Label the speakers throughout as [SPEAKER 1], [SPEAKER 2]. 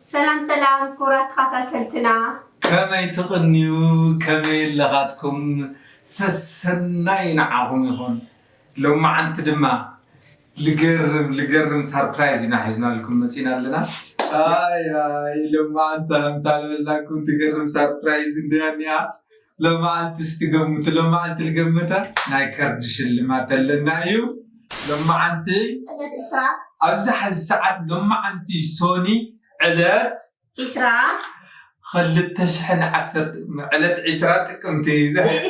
[SPEAKER 1] ሰላም ሰላም ክቡራት ተኻታተልትና። ከመይ
[SPEAKER 2] ትቅንዩ ከመይ ኣለኻትኩም ሰሰናዩ ንዓኹም ይኹን ሎምዓንቲ ድማ ልገርም ልገርም ሳርፕራይዝ ኢና ሒዝናልኩም መጺና ኣለና ኣይይ ሎምዓንቲ ሃምታ ልበልናኩም ትገርም ሳርፕራይዝ እንድያ እኒኣ ሎማዓንቲ እስቲ ገምቱ ሎማዓንቲ ልገምታ ናይ ካርድ ሽልማት ኣለና እዩ ሎማዓንቲ ዕለት ዕስራ ኣብዚ ሐዚ ሰዓት ሎማዓንቲ ሶኒ ዕለት ዕስራ
[SPEAKER 1] ኽልተ
[SPEAKER 2] ሽሕን ዓሰርተ ዕለት ዕስራ ጥቅምቲ ዕለት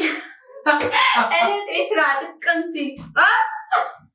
[SPEAKER 2] ዕስራ
[SPEAKER 1] ጥቅምቲ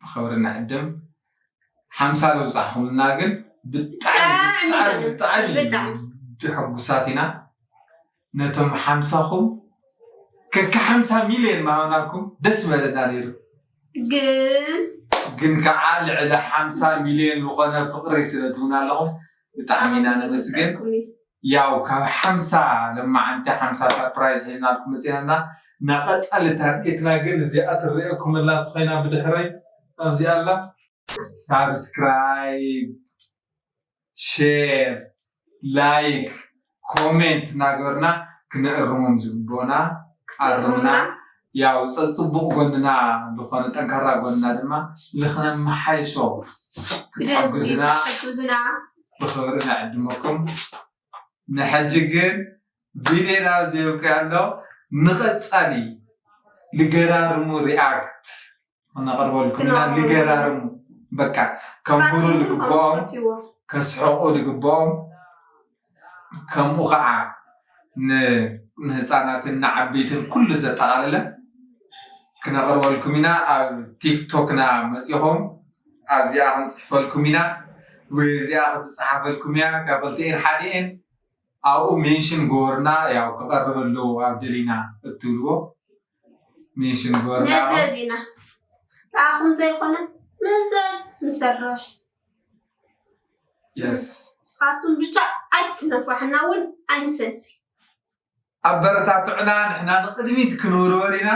[SPEAKER 2] ብክብሪ ንዕድም ሓምሳ ዘብፃሕኹምና ግን ብጣዕሚ ብጣዕሚ ብጣዕሚ ሕጉሳት ኢና ነቶም ሓምሳኹም ከካ ሓምሳ ሚልዮን ማሃብናኩም ደስ በለና ነይሩ ግን ግን ከዓ ልዕሊ ሓምሳ ሚልዮን ዝኾነ ፍቅሪ ስለትብና ኣለኹም ብጣዕሚ ኢና ነመስግን ያው ካብ ሓምሳ ለማዓንቲ ሓምሳ ሳፕራይዝ ሒዝናልኩም መፂና እና እና ቀፃሊ ታርጌትና ግን እዚኣ ትረኤኩም ኣላ እንተኮይና ብድሕረይ ኣብዚኣ ኣላ ሳብስክራይብ ሼር ላይክ ኮሜንት እናገበርና ክነእርሞም ዝግበኡና ኣርሙና ያው ፀፅቡቕ ጎንና ልኾነ ጠንካራ ጎንና ድማ ልኽነመሓይሶ ክትሕግዙና ብኽብሪ ንዕድመኩም ንሐጂ ግን ቪድዮና ዘይብቅዕ ኣሎ ንቐፃሊ ልገራርሙ ሪኣክት እናቅርበልኩም ኢና ንገራርሙ በቃ ከንብሩ ዝግበኦም ከስሕቁ ዝግበኦም ከምኡ ከዓ ንህፃናትን ንዓበይትን ኩሉ ዘጠቃለለ ክነቅርበልኩም ኢና ኣብ ቲክቶክና መፂኩም ኣብዚኣ ክንፅሕፈልኩም ኢና ወይ እዚኣ ክትፀሓፈልኩም እያ ካብ ክልቲኤን ሓዲኤን ኣብኡ ሜንሽን ግበሩና ያው ክቀርብ ኣለዎ ኣብ ደሊና እትብልዎ ኔሽን ጎርና ነዘዝ ኢና
[SPEAKER 1] ንዓኹም ዘይኮነ ነዘዝ ንሰርሕ
[SPEAKER 2] የስ ንስኻትኩም ብቻ
[SPEAKER 1] ኣይትስነፉ ኣሕና እውን ኣይንሰንፊ ኣበረታትዕና
[SPEAKER 2] ንሕና ንቅድሚት ክንውርወር ኢና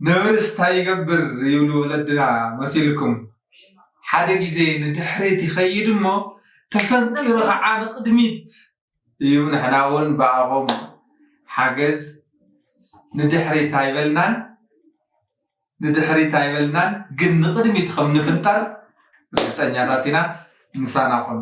[SPEAKER 2] ነብርስ እንታይ ይገብር ይብሉ ወለድና መሲልኩም ሓደ ግዜ ንድሕሪት ይኸይድ እሞ ተፈንጢሩ ከዓ ንቅድሚት እዩ ንሕና እውን ብኣኹም ሓገዝ ንድሕሪት ኣይበልናን ንድሕሪት ኣይበልናን ግን ንቕድሚት ከም ንፍንጠር ርግፀኛታት ኢና ምሳና ኩኑ